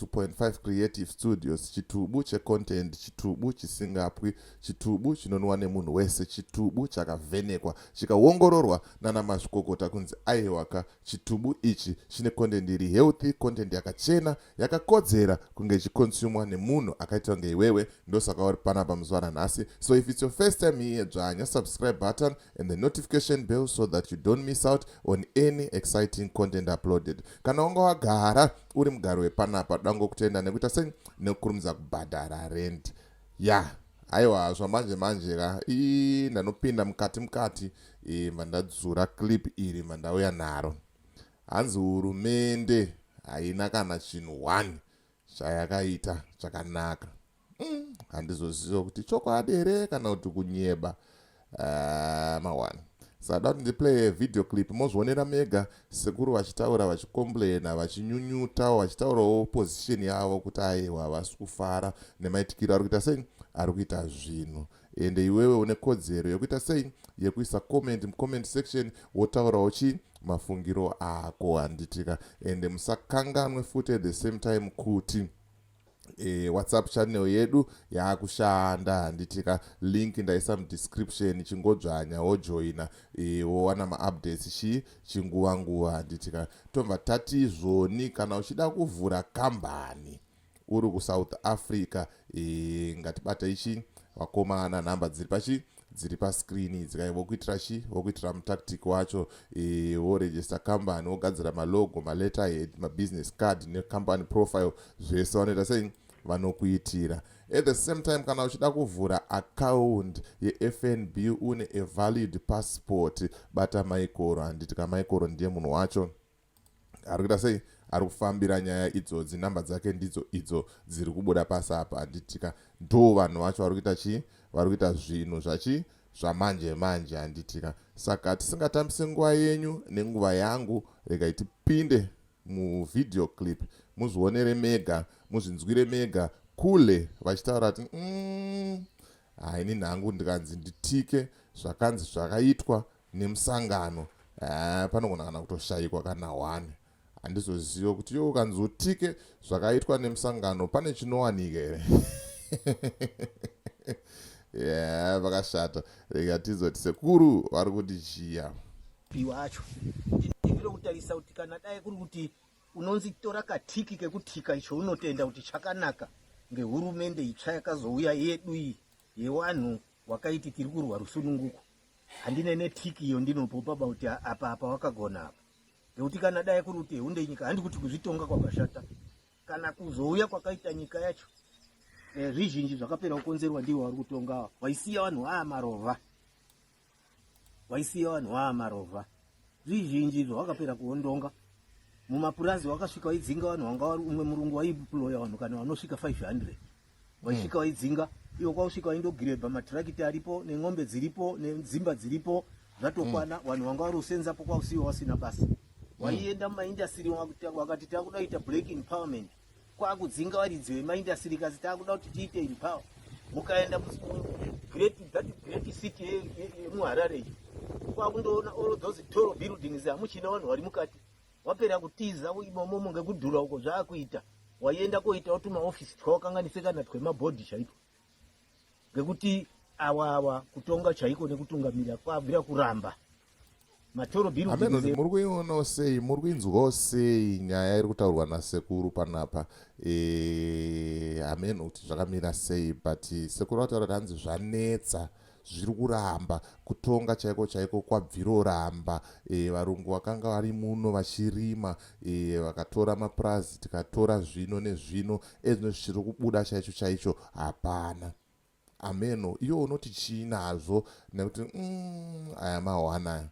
2.5 creative studios chitubu checontent chitubu chisingapwi chitubu chinonwa nemunhu wese chitubu chakavhenekwa chikaongororwa nana mazvikokota kunzi aiwaka chitubu ichi chine content iri healthy content yakachena yakakodzera kunge ichikonsumwa nemunhu akaitwa kunge iwewe ndosaka uri panapa muzuva ranhasi so if it's your first time here dzvanya subscribe button and the notification bell so that you don't miss out on any exciting content uploaded kana wanga wagara uri mugari wepanapa dango kutenda nekuita sei nekukurumidza kubhadhara rent ya aiwa zvamanje manje ka ii ndanopinda mukati mukati imva ndadzura clip iri mva ndauya naro hanzi hurumende haina kana chinhu one chayakaita chakanaka mm, handizoziva kuti chokwadi here kana kuti kunyeba uh, ah, mawani sada kuti ndiplaye video clip mozvionera mega sekuru vachitaura vachicomplaina vachinyunyutawo vachitaurawo position yavo kuti aiwa havasi kufara nemaitikiro ari kuita sei ari kuita zvinhu ende iwewe une kodzero yekuita sei yekuisa comment mucomment section wotaurawo chii mafungiro ako handitika ende musakanganwe futi at the same time kuti e, whatsapp channel yedu yaakushanda handitika link ndaisa mudescription chingodzvanya wojoina e, wowana maupdates chii chinguva nguva handitika tobva tati zvoni kana uchida kuvhura kambani uri kusouth africa e, ngatibata ichi vakomana nhamba dziri pachii dziri pascreen idzi kai vokuitira chi vokuitira mutactic wacho e, woregister company wogadzira malogo maletterhead mabusiness card necompany profile zvese vanoita sei vanokuitira at the same time kana uchida kuvhura account yefnb une avalid passport bata maikoro handiti kamaikoro ndiye munhu wacho ari kuita sei ari kufambira nyaya idzodzi number dzake ndidzo idzo dziri kubuda pasi apa handitika ndo vanhu vacho vari kuita chii vari kuita zvinhu zvachii zvamanje manje handitika saka tisingatambise nguva yenyu nenguva yangu regai tipinde muvideo clip muzvionere mega muzvinzwire mega kule vachitaura kuti mm, haini nhangu ndikanzi nditike zvakanzi zvakaitwa nemusangano eh, panogona kana kutoshayikwa kana one handizozive kuti yo ukanzi utike zvakaitwa nemusangano pane chinowanika here ya vakashata rega tizoti sekuru vari kuti chiya piwa acho ndiviro kutarisa kuti kana dai kuri kuti unonzi tora katiki kekutika icho unotenda kuti chakanaka ngehurumende itsva yakazouya yedu iyi yewanhu wakaiti tiri kurwa rusununguko handine netiki iyo ndinopopa about apa apa wakagona apa nekuti kana dai kuri kuti hunde nyika handi kuti kuzvitonga kwakashata kana kuzouya kwakaita nyika yacho eh, zvizhinji e, zvakapera kukonzerwa ndiwo wari kutonga waisiya vanhu aa marova waisiya vanhu aa marova zvizhinji izvo wakapera kuondonga mumapurazi wakasvika waidzinga vanhu wanga wari umwe murungu waiploya vanhu kana vanosvika 500 waisvika mm. waidzinga iwo kwausvika waindogirebha matirakiti aripo nen'ombe dziripo nedzimba dziripo zvatokwana mm. vanhu vanga vari kusenzapo kwausiwo wasina basa mm. waienda mumaindastiri wakati takuda kuita black empowerment kwakudzinga varidzi vemaindastiri kasi takuda kuti tiite empower mukaenda city yemuharare kwakundoona all those toro buildings hamuchina vanhu vari mukati wapera kutiza imomomo ngekudhura uko zvaakuita waienda koitawo tumaofisi twawakanganise kana twemabhodhi chaipo ngekuti awa awa kutonga chaiko nekutungamira kwabvira kuramba muri kuionawo sei muri kuinzwawo sei nyaya iri kutaurwa nasekuru panapa hameno e, kuti zvakamira sei but sekuru vataura kuti hanzi zvanetsa e, zviri kuramba kutonga chaiko chaiko kwabviroramba e, varungu vakanga vari muno vachirima e, vakatora mapurazi tikatora zvino nezvino ezvino zvichiri kubuda chaicho chaicho hapana ameno iwo unoti chii nazvo nekuti mm, aya mahwanaya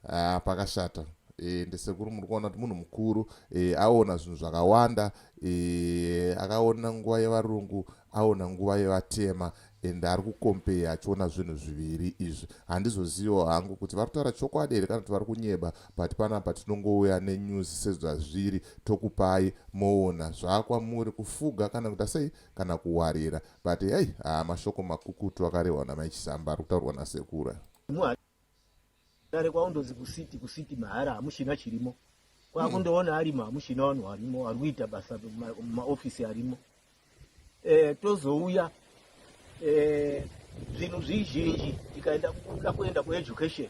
Ah, pakashata e, ndisekuru muri kuona kuti munhu mukuru e, aona zvinhu zvakawanda e, akaona nguva yevarungu aona nguva yevatema and ari kukompeya achiona zvinhu zviviri izvi handizoziviwo hangu kuti vari kutaura chokwadi here kana kuti vari kunyeba but panapa tinongouya nenyuzi sezvazviri tokupai moona zvakwamuri kufuga kana kuita sei kana kuwarira but hei haa mashoko makukutu akarehwa namai chisamba ari kutaurwa nasekura Kare kwaundozi kusiti kusiti mahara hamushina chirimo kwakundoona arimo hamushina vanhu varimo ari kuita basa maofisi arimo e, tozouya e, zvinhu zvizhinji tikaenda kuda kuenda kueducation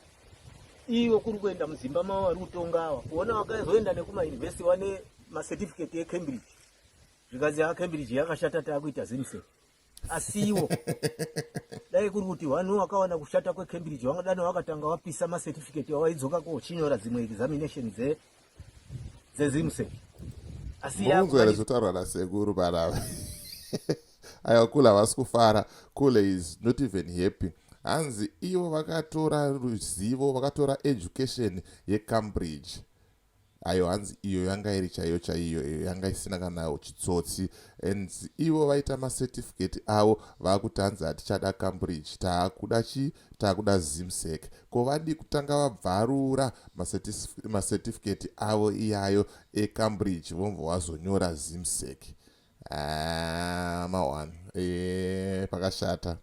iwe kuri kuenda muzimba mavo vari kutonga ava kuona vakazoenda nekumayunivhesiti vane macertificate ecambridge zvikanzi yacambridge yakashata taakuita zimse asiwo dai kuri kuti vanhu vakawana kushata kwecambridge vangadani vakatanga vapisa macertificate avaidzoka kochinyora dzimwe examination dze dzezimse asiazotaurwa nasekuru panava aiwa kule havasi kufara kule is not even happy hanzi ivo vakatora ruzivo vakatora education yecambridge ayo hanzi iyo yanga iri chaiyo chaiyo iyo yanga isina kana chitsotsi and ivo vaita macertificate avo vakuti hanzi hatichada cambridge taakuda chii taakuda zimsec ko vadii kutanga vabvarura macertificate avo iyayo ecambridge vomva wazonyora zimsec Ah, mahwani eh, pakashata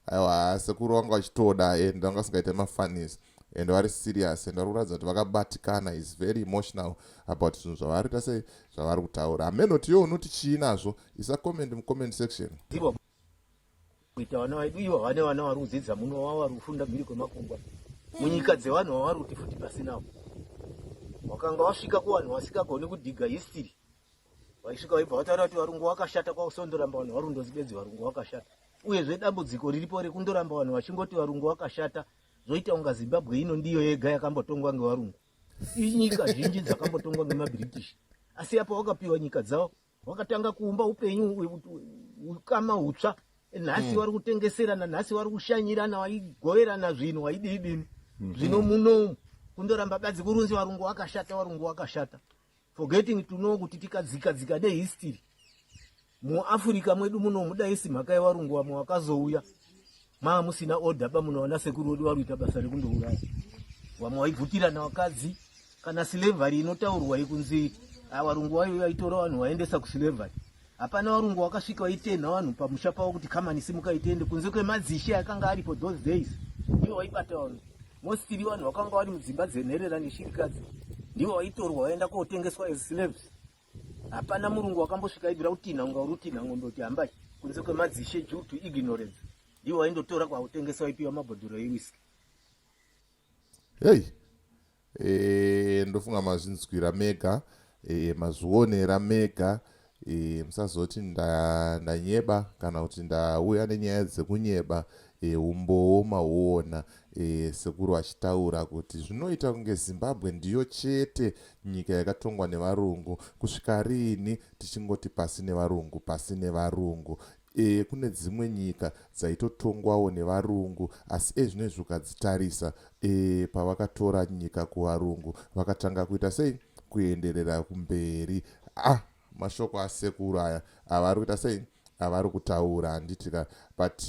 aiwa sekuru vanga vachitoda and vanga vasingaita mafanis and vari serious and vari kuratidza kuti vakabatikana is very emotional about zvinhu zvavari ta sei zvavari kutaura amenoti yo unoti chii nazvo isa comment mucomment section kuita vana vaidu ivo vane vana vari kudzidza muno vavo vari kufunda mhiri kwemakungwa munyika dzevanhu vavari kuti futi pasinavo wakanga wasvika kuvanhu vasingagoni kudhiga history vaisvika vaibva vataura kuti varungu wakashata kwausondoramba vanhu varundozi bedzi varungu wakashata uyezve dambudziko riripo rekundoramba vanhu vachingoti varungu wakashata zvoita kunga zimbabwe ino ndiyo yega yakambotongwa ngevarungu inyika zhinji dzakambotongwa ngemabritish asi apo wakapiwa nyika dzavo wakatanga kuumba upenyu ukama utsva nhasi hmm. vari kutengeserana nhasi vari kushanyirana waigoverana zvinhu waidii dini hmm. zvino muno kundoramba badzi kurunzi varungu wakashata varungu wakashata forgetting to know kuti tikadzika dzika nehistory muafrica mwedu muno mudaisi mhaka yevarungu vamwe vakazouya maa musina order pamuno vana sekuru vedu varuita basa rekundouraya vamwe vaibvutirana vakadzi kana slavery inotaurwa yekunzi avarungu ah, vayo vaitora vanhu vaendesa kuslavery Hapana varungu wakasvika vaitenha vanhu pamusha pavo kuti kamani simuka itende kunze kwemadzishe akanga aripo those days ndivo vaibata vanhu mostili vanhu vakanga vari mudzimba dzenherera neshirikadzi ndivo vaitorwa vaenda kotengeswa as slaves hapana murungu wakambosvika aibvira kutinha unga uri kutinha ngombe kuti hambai kunze kwemadzishe due to ignorance ndivo vaindotora kwautengesa vaipiwa mabhodhoro ewiski hei Eh, ndofunga mazvinzwira mega eh, mazvionera mega eh, musazoti nda- ndanyeba kana kuti ndauya nenyaya dzekunyeba eh, umbowo mahuona eh, sekuru vachitaura kuti zvinoita kunge zimbabwe ndiyo chete nyika yakatongwa nevarungu kusvika riini tichingoti pasi nevarungu pasi nevarungu Ehe kune dzimwe nyika dzaitotongwawo nevarungu asi ezvinezvi ukadzitarisa ee pavakatora nyika kuvarungu vakatanga kuita sei kuenderera kumberi ah mashoko asekuru aya avari kuita sei avari kutaura handiti ka but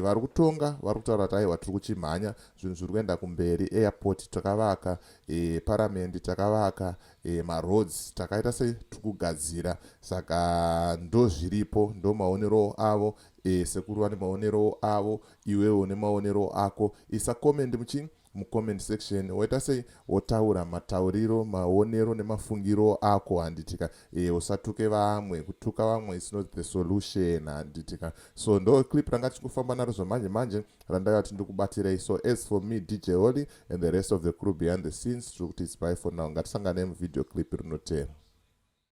vari kutonga vari kutaura kuti aiwa tiri kuchimhanya zvinhu zviri kuenda kumberi airport takavaka e, paramende takavaka e, maroads takaita setukugadzira saka ndozviripo ndomaonerowo avo e, sekuru vane maonerowo avo iwewo une maonerowo ako isa comment muchini mucomment section woita sei wotaura matauriro maonero nemafungiro ako handitika e, usatuke vamwe kutuka vamwe is not the solution handitika so ndo clip ranga tichikufamba naro zvamanje manje randaiva tindikubatirei so as for me dj holy and the rest of the crew behind the scenes tiri kuti it's by for now ngatisangane muvideo clip rinotera